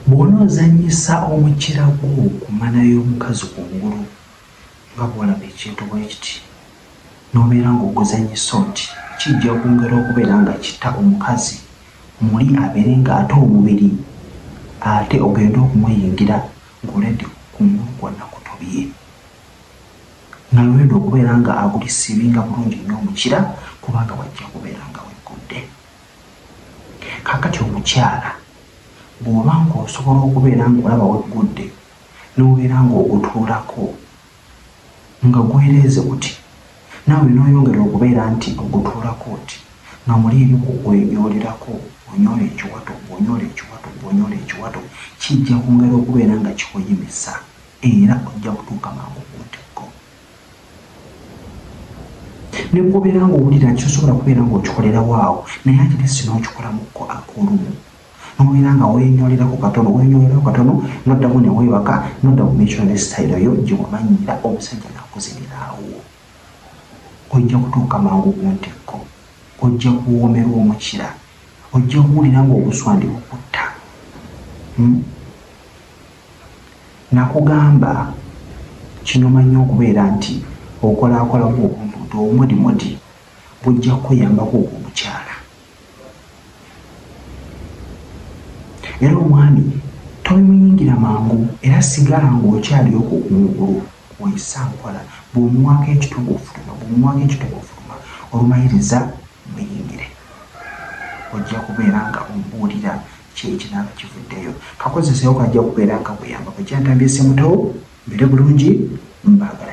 bwona ozanyisa omukira gwo kumana y'omukazi ku ngulu nga bwolaba ekintu bwe kiti n'obeera ng'oguzanyisa oti kijja okwongera okubeera nga kitta omukazi muli abeere ng'ate omubiri ate ogende okumuyingira ng'oledi ku ngulu kwonna kutobye nalwenda okubeera nga aguli siibinga bulungi nnyo omukira kubanga wajja kubeera nga weggudde kakati omukyala bw'oba ng'osobola okubeera ng'olaba weggudde n'obeera ng'ogutuulako nga gwereeze kuti naawe n'oyongera okubeera nti ogutuulako oti nga muli ebyokugwenyolerako onyola ekiwato bwonyola ekiwato bwonyola ekiwato kijja kwongera okubeera nga kikuyimisa era ojja kutuuka mangu ku ntikko ne bwobeera nga owulira nti osobola kubeera ng'okikolerawo awo naye ate ne sina okikolamuko ak'olumu nobeera nga wenyolerako katono wenyolerako katono noddamu ne weebaka nodda mu micono ne sitayiro yo gye wamanyira omusajja nakuziniraawo ojja kutuuka mangu ku ntikko ojja kuwoomerwa omukira ojja kuwulira ng'obuswandi bukutta hmm? Nakugamba kino manyi okubeera nti okolakolamu obuntuntu obumodimodi bujja kukuyambako ogwo omukyala. Era omwami tobimuyingira mangu era sigala ng'okyali okwo kungulu oyisa nkola bw'omuwaako ekitugu ofutuma bw'omuwaako ekitugu ofutuma olumayiriza muyingire ojja kubeera nga omubuulira kiri kinaaba kivuddeyo kakozesewo kajja kubeera nga kuyamba kwekyantambye semutowo mbere bulungi mbaagala